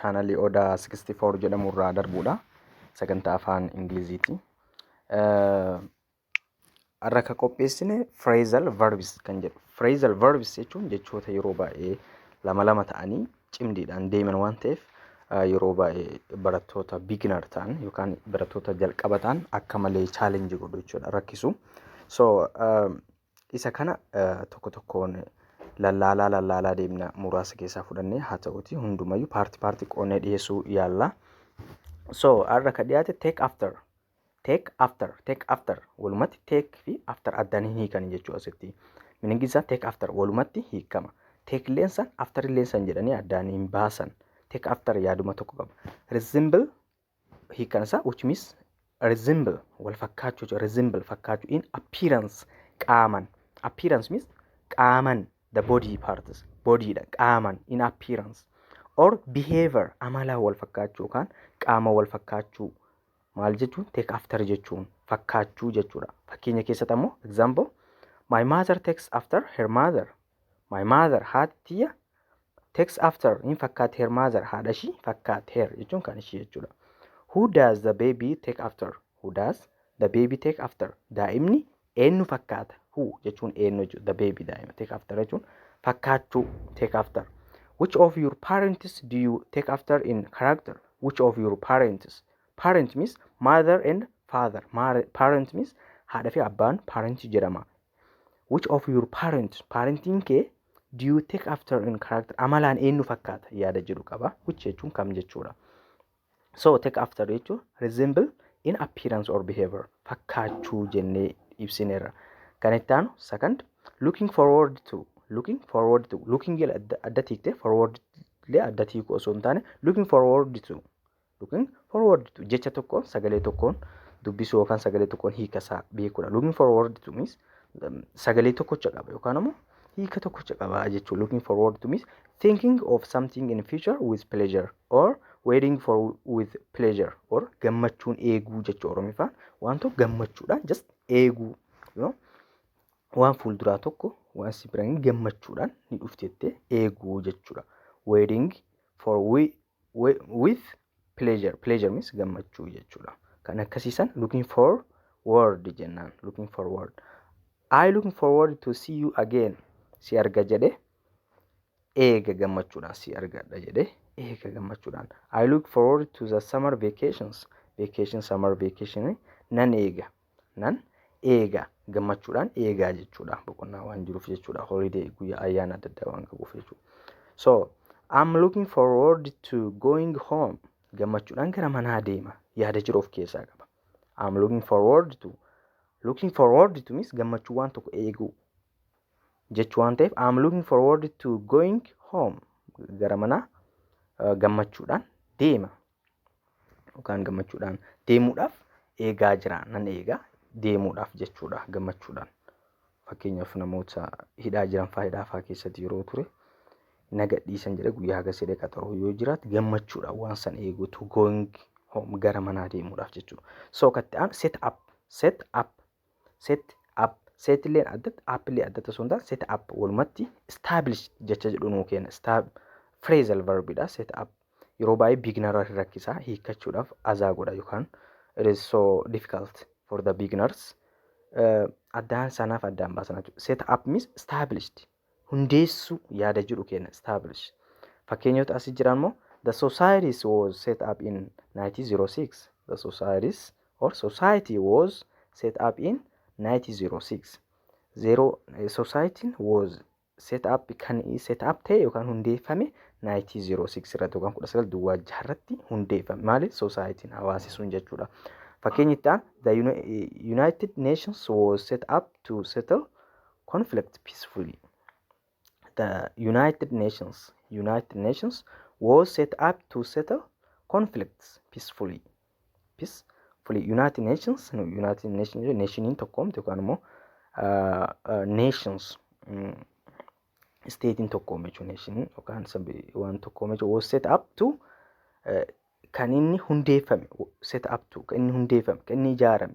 chaanalii Oda 64 jedhamu irraa darbuudha. Sagantaa afaan Ingiliziiti. Har'a kan qopheessine phrasal verbs kan jedhu. Phrasal verbs jechuun jechoota yeroo baay'ee lama lama ta'anii cimdiidhaan deeman waan ta'eef yeroo baay'ee barattoota beginner ta'an yookaan barattoota jalqaba ta'an akka malee challenge godhu jechuudha rakkisu. So Isa kana tokko tokkoon lallaalaa lallaalaa deemna muraasa keessaa fudhannee haa ta'uuti hundumayyuu paarti paarti qoonnee dhiyeessuu yaalla. So har'a kan dhiyaate take after take after take after walumatti take fi after addaan hin hiikan jechuu asitti. Miningi isaa take after walumatti hiikama. Take leensan after leensan jedhanii addaan hin baasan. Take after yaaduma tokko qaba. Resemble hiikkan isaa which means resemble wal fakkaachuu jechuudha. resemble fakkaachuu in appearance qaaman appearance means qaaman the body parts body dha qaaman in appearance or behavior amala wal fakkaachuu yookaan qaama wal fakkaachuu maal jechuun take after jechuun fakkaachuu jechuudha. Fakkeenya keessatti ammoo example my mother takes after her mother My mother haati tiyya takes after hin fakkaatti her mother haadha ishii fakkaatti her jechuun kan ishii jechuudha. Who does the baby take after? Who does the baby take after? Daa'imni eenyu fakkaata? Who jechuun eenyu jechuudha. The baby daa'ima take after jechuun fakkaachuu take after. Which of your parents do you take after in character? Which of your parents? Parent means mother and father. Mare- Parent means haadha fi abbaan parent jedhama. which of your parents parentiin kee do you take after in character amalaan eenyu fakkaata yaada jedhu qaba which jechuun kam jechuudha so take after jechuun resemble in appearance or behavior fakkaachuu jennee ibsineerra kan itti aanu second looking forward to looking forward to looking adda tiikte forward illee adda tiiku osoo hin taane looking forward to Looking forward to jecha tokkoon sagalee tokkoon dubbisuu yookaan sagalee tokkoon hiika isaa beekuudha. Looking forward to means um, sagalee tokkocha qaba yookaan ammoo hiika tokkocha qaba jechuudha. Looking forward to means thinking of something in future with pleasure or waiting for with pleasure or gammachuun eeguu jechuudha Oromiffaan waan tokko gammachuudhaan just eeguu you know? waan fuulduraa tokko waan si biraan gammachuudhaan ni dhuftettee eeguu jechuudha. Waiting for we wi- with pleasure pleasure means gammachuu jechuudha kan akkasiisan looking for word jennaan looking for word I looking forward to see you again si arga jedhe eega gammachuudhaan si argadha jedhe eega gammachuudhaan I look forward to the summer vacations vacation summer vacation nan eega nan eega gammachuudhaan eegaa jechuudha boqonnaa waan jiruuf jechuudha holiday guyyaa ayyaana adda addaa waan qabuuf jechuudha so I'm looking forward to going home gammachuudhaan gara manaa deema yaada jiru of keessaa qaba I'm looking forward to looking forward to means gammachuu waan tokko eeguu jechuu waan ta'eef I'm looking forward to going home gara manaa uh, gammachuudhaan deema Yookaan gammachuudhaan deemuudhaaf eegaa jira nan eegaa deemuudhaaf jechuudha gammachuudhaan. Fakkeenyaaf namoota hidhaa jiran fa'aa hidhaa fa'aa keessatti yeroo ture na gadhiisan jedhee guyyaa hagas jedhee qaxaroo yoo jiraate gammachuudhaan waan san eegu to going home gara manaa deemuudhaaf jechuudha. So katti aan set up set up set up set illeen addatti app illee addatti osoo hin taane set up walumatti establish jecha jedhu nuu kenna stab phrasal verb dha set up yeroo baay'ee beginner irratti rakkisa hiikkachuudhaaf azaa godha yookaan it is so difficult for the beginners uh, addaan sanaaf addaan baasana jechuudha set up means established hundeessuu yaada jedhu kenna establish fakkeenyota asi jiran immoo the societies was set up in 1906 the societies or society was set up in 1906 zero societiin was set up kan set up ta'e yookaan hundeeffame 1906 irratti yookaan 19 duwwaa jaha irratti hundeeffame maali societiin hawaasi sun jechuudha fakkeenyi itti aan the united nations was set up to settle conflict peacefully. The United Nations United Nations was set up to settle conflicts peacefully. Peacefully United Nations no, United Nations nationiin tokkoomte yookaan immoo ah, ah, nations mm, isteetiin tokkoome jechuun neeshinii yookaan sabi- waan tokkoome jechuun was set up to eh, kan inni hundeeffame set up to kan inni hundeeffame kan inni ijaarame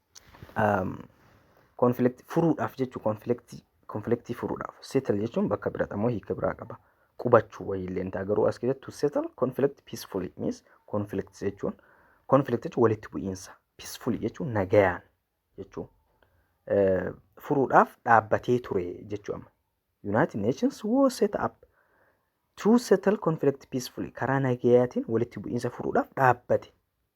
Konfliktii furuudhaaf jechuun konfliktii konfliktii furuudhaaf settle jechuun bakka biraadha moo hiika biraa qaba. Qubachuu wayii illee ta'a garuu as keessatti to settle conflict peacefully means conflict jechuun conflict jechuun walitti bu'iinsa peacefully jechuun nagayaan jechuun eh, furuudhaaf dhaabbatee ture jechuu amma. United Nations was set up to settle conflict peacefully karaa nagayaatiin walitti bu'iinsa furuudhaaf dhaabbate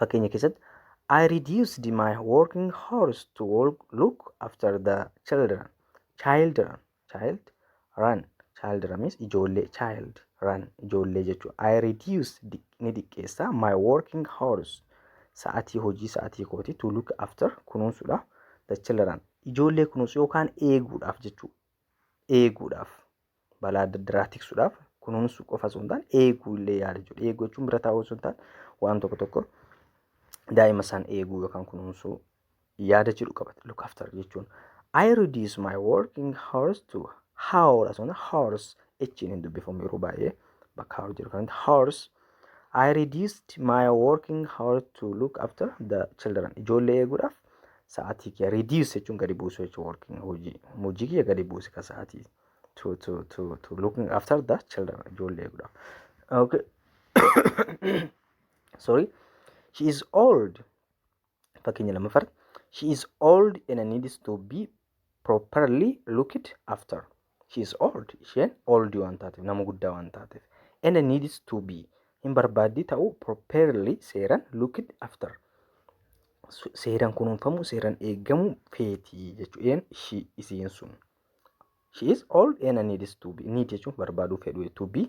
fakkeenya keessatti I reduced my working hours to work, look after the children. Children, child, run. Children means ijoollee, child, run, ijoollee jechuudha. I reduced di- ni diqqeessa my working hours. Sa'atii hojii sa'atii kooti to look after kunuunsuudhaaf the children. Ijoollee kunuunsu yookaan eeguudhaaf jechuudha. Eeguudhaaf. balaa adda addaa tiksuudhaaf kunuunsu qofa osoo hin taane eeguu illee yaala jechuudha. Eeguu jechuun bira taa'uu osoo hin taane waan tokko tokko daa'ima isaan eeguu yookaan kunuunsuu yaada jedhu qabata look after jechuun. I reduce my working hours to hour osoo hin hours echiin hin dubbifamu yeroo baay'ee bakka hour jedhu kanatti hours I reduced my working hour to look after the children. Ijoollee eeguudhaaf sa'aatii kiyya reduce jechuun gadi buusu jechuun working hojii hojii kiyya gadi buuse ka sa'aatii to to to to looking after the children ijoollee eeguudhaaf. Okay. Sorry. She is old. Fakkeenya lammaffaa She is old and needs to be properly looked after. She is old. Isheen old waan taateef nama guddaa waan taateef. And needs to be hin barbaaddi ta'uu properly seeran looked after. Su- Seeran kunuunfamuu seeran eegamuu feeti jechuudha. Ishii isiin sun. She is old and needs to be. Need jechuun barbaaduu fedhu to be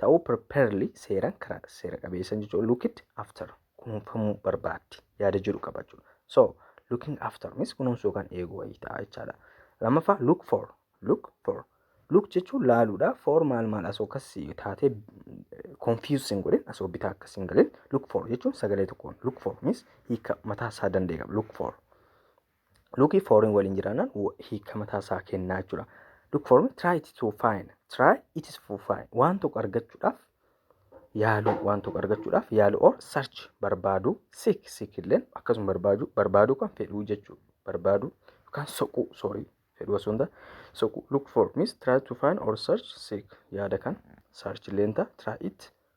ta'uu properly seeraan karaa seera qabeessan jechuudha. Look it after kunuunfamuu barbaaddi yaada jedhu qaba jechuudha. So looking after means kunuunsuu yookaan eeguu wayii ta'a jechaadha. Lammaffaa look for look for look jechuun laaluudha. For maal maal asoo akkas taatee confuse hin godhin asoo bitaa akkas hin galin look for jechuun sagalee tokkoon look for means hiika mataa isaa danda'e qaba look for. Luki fooriin waliin jiraannaan hiika mataa isaa kennaa jechuudha. Look for me, try it to find, try it is to find. Waan tokko argachuudhaaf yaaluu, waan tokko argachuudhaaf yaaluu or search barbaaduu, seek seek illeen akkasuma barbaaduu, barbaaduu kan fedhuu jechuudha. Barbaaduu yookaan soquu, sorry, fedhuu osoo hin taane soquu. Look for means try to find or search seek yaada kan search illeen ta'a, try it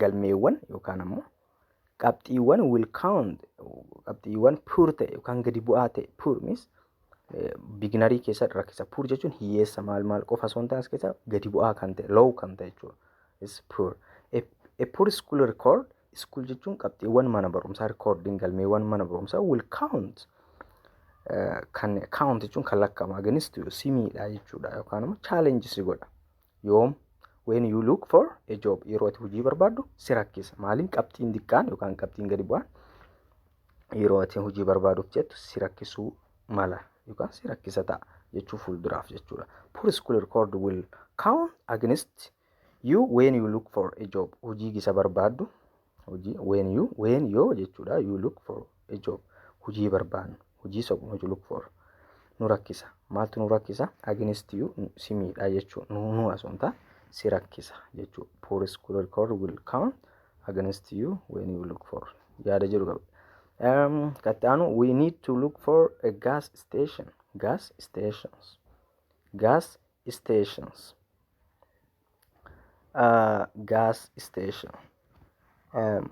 galmeewwan yookaan ammoo qabxiiwwan will count qabxiiwwan puur ta'e yookaan gadi bu'aa ta'e puur means biginarii keessa rakkisa puur jechuun hiyyeessa maal maal qofa osoo hin taane as keessa gadi bu'aa kan ta'e low kan ta'e jechuudha is puur a puur school record school jechuun qabxiiwwan mana barumsaa recording galmeewwan mana barumsaa will count kan count jechuun kan lakkaa'amu against simiidha jechuudha yookaan immoo challenge si godha yoom when you look for a job yeroo ati hojii barbaaddu si rakkisa maaliin qabxiin diqqaan yookaan qabxiin gadi bu'aan yeroo ati hojii barbaaduuf jettu si rakkisuu mala yookaan si rakkisa ta'a jechuu fuulduraaf jechuudha poor school record will count against you when you look for a job hojii gisa barbaaddu hojii when you when yoo jechuudha you look for a job hojii barbaannu hojii soqnu hojii look for nu rakkisa maaltu nu rakkisa against you si miidhaa jechuu nu nu asumta si rakkisa jechuu poor school record will come against you when you look for yaada jedhu qaba. Um, katti aanu we need to look for a gas station gas stations gas stations uh, gas station um,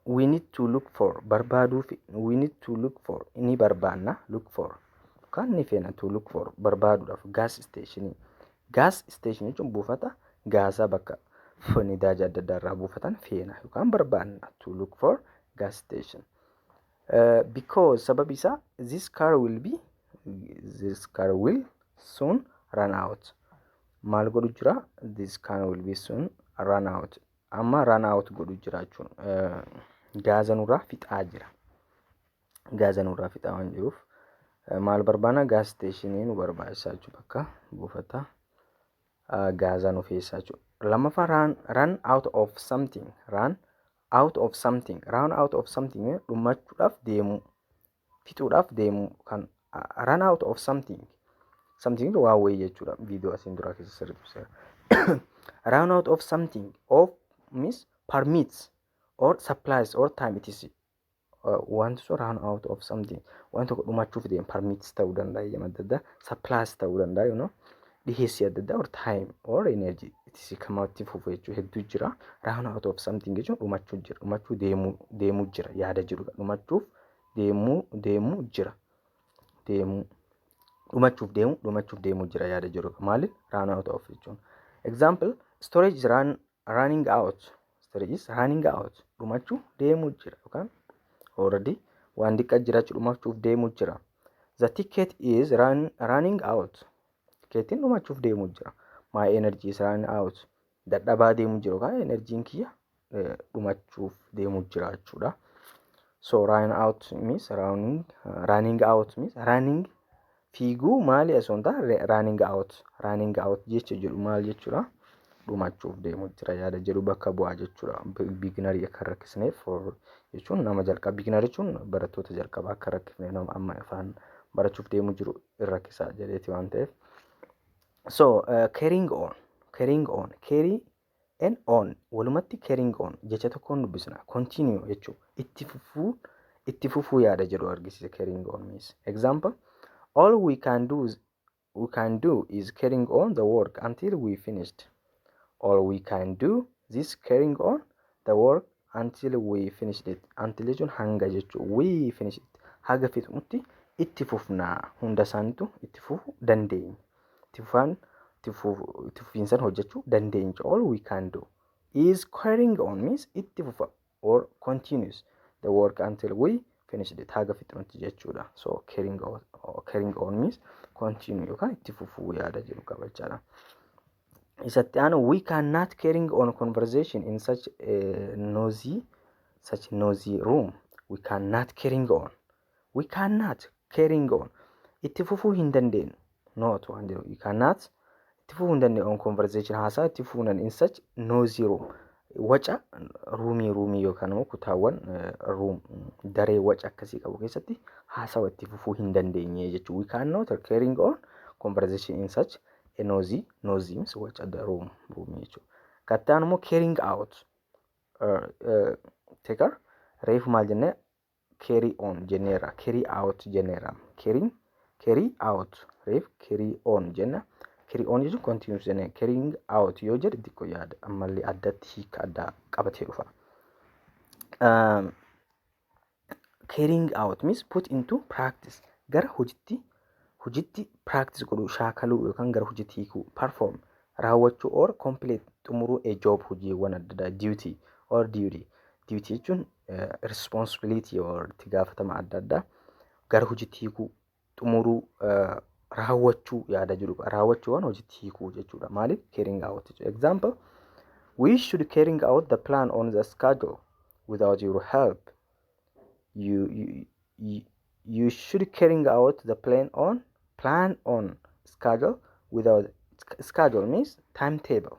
we need to look for barbaaduu fi we need to look for ni barbaanna look for kan ni feena to look for barbaaduudhaaf gas station gas station jechuun buufata gaasaa bakka f- nidaaja adda addaa irraa buufatan feena yookaan barbaanna to look for gas station uh, because sababi isaa this car will be this car will soon run out maal godhu jira this can will be soon run out amma run out godhu jira jechuun gaaza nurraa fixaa jira gaaza nurraa fixaa waan jiruuf maal barbaana gaaz isteeshinii nu barbaachisa jechuu bakka buufata gaazaa nu feessaa jechuu lammaffaa run run out of something run out of something run out of something dhumachuudhaaf deemuu fixuudhaaf deemu kan run out of something something waa wayii jechuudha viidiyoo asiin duraa keessa sirriitti ibseera run out of something of means permits or supplies or time it is uh, wanti sun run out of something waan tokko dhumachuuf deemu permits ta'uu danda'a eeyyama adda addaa supplies ta'uu danda'a you know dhiheessii adda addaa or time or energy it is kamatti fufu jechuu hedduu jira run out of something jechuun dhumachuu jira dhumachuu deemuu deemuu jira yaada jirudha dhumachuuf deemuu deemuu jira deemuu dhumachuuf deemu dhumachuuf deemuu jira yaada jiru maaliif run out of jechuun example storage is run, running out storage is running out dhumachuuf deemuu jira yookaan already waan diqqaa jiraachuu dhumachuuf deemuu jira the ticket is run, running out tikeetiin dhumachuuf deemuu jira my energy is running out dadhabaa deemuu jira yookaan enerjiin kiyya dhumachuuf deemuu jiraachuudha. So run out means running, running out means running fiiguu maali osoo hin taane running out running out jecha jedhu maal jechuudha dhumachuuf deemuu jira yaada jedhu bakka bu'aa jechuudha biiginarii akka rakkisneef for jechuun nama jalqaba biiginarii jechuun barattoota jalqabaa akka rakkifneef nama amma afaan barachuuf deemuu jiru hin rakkisaa jedheeti waan ta'eef. So uh, carrying on carrying on carry N on walumatti carrying on jecha tokkoon dubbisna continue jechuu itti fufuu itti fufuu yaada jedhu argisiisa carrying on means example all we can do is, we can do is carrying on the work until we finished all we can do this carrying on the work until we finished it until jechuun hanga jechuu we finished it haga fixnutti itti fufna hunda isaaniitu itti fufuu dandeenya itti fufaan itti fufiinsan hojjechuu dandeenya all we can do is carrying on means itti fufa or continues the work until we finished it haga fixnutti jechuudha so carrying on, carrying on means continue yookaan itti fufuu yaada jedhu qaba jechaadha. isatti aanu we can not carrying on conversation in such uh, noisy such noisy room we can not carrying on we can not carrying on itti fufuu hin dandeenyu not waan jedhu we can not itti fufuu hin dandeenyu on conversation haasaa itti fufuu hin dandeenyu in such noisy room waca ruumii ruumii yookaan immoo kutaawwan eh, ruum daree waca akkasii qabu keessatti haasawa itti fufuu hin dandeenye jechuudha. We cannot carrying on conversation in such a nosy nosy means watch at the room room jechuudha katta anu immoo carrying out uh, uh, take care reefu maal jennee carry on jenneera carry out jenneera carrying carry out reef carry on jenna carry on jechuun continuous jenne carrying out yoo jedhe xiqqoo yaada ammallee addatti hiika addaa qabatee dhufa. Um, carrying out means put into practice gara hojitti hojitti practice godhuu shaakaluu yookaan gara hojitti hiikuu perform raawwachuu or complete xumuruu a job hojiiwwan adda addaa duty or duty duty jechuun eh, responsibility or itti gaafatama adda addaa gara hojitti hiikuu xumuruu raawwachuu yaada jedhu qaba. Raawwachuu waan hojiitti hiikuu jechuudha. Maaliif carrying out jechuudha. Example We should carrying out the plan on the schedule without your help. You, you, you, you should carrying out the plan on plan on schedule without schedule means timetable.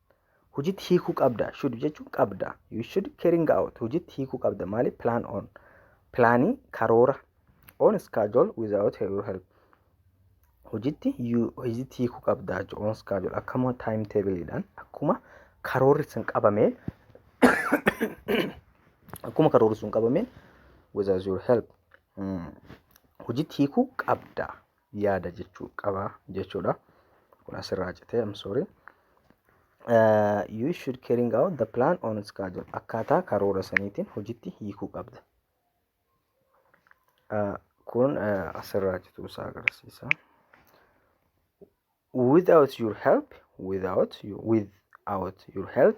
hojitti hiikuu qabda should jechuun qabda you should carrying out hojitti hiikuu qabda maali plan on pilaanii karoora on schedule without your help hojitti you- hojitti hiikuu qabda jechuun on schedule akkuma time table dhaan akkuma karoorri sun qabameen akkuma karoorri sun qabameen without your help mm, hojitti hiikuu qabda yaada jechuu qaba jechuudha. Kun asirraa citee I'm sorry. Uh, you should carrying out the plan on schedule. Akkaataa karoora saniitiin hojitti hiikuu qabda. Uh, kun uh, asirraa cituu isaa agarsiisa. Without your help, without your, without your help,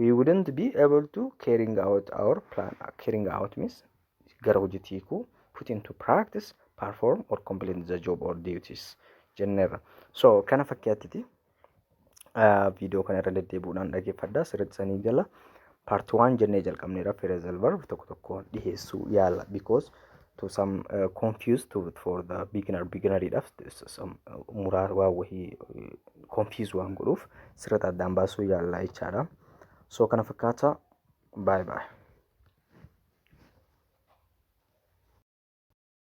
we wouldn't be able to carrying out our plan carrying out means gara hojiitti hiikuu put into practice perform or complete the job or duties jenneerra so kana fakkiyattiti viidiyoo kana irra deddeebi'uudhaan dhaggeeffadhaa sirriitti sanii gala part 1 jennee jalqabneera phrasal verb tokko tokko dhiheessuu yaala because to some uh, confused to, for the beginner beginneridhaaf s- some, uh, muraa waa wahii uh, confuse waan godhuuf sirriitti addaan baasuu yaallaa jechaadha so kana fakkaata bye bye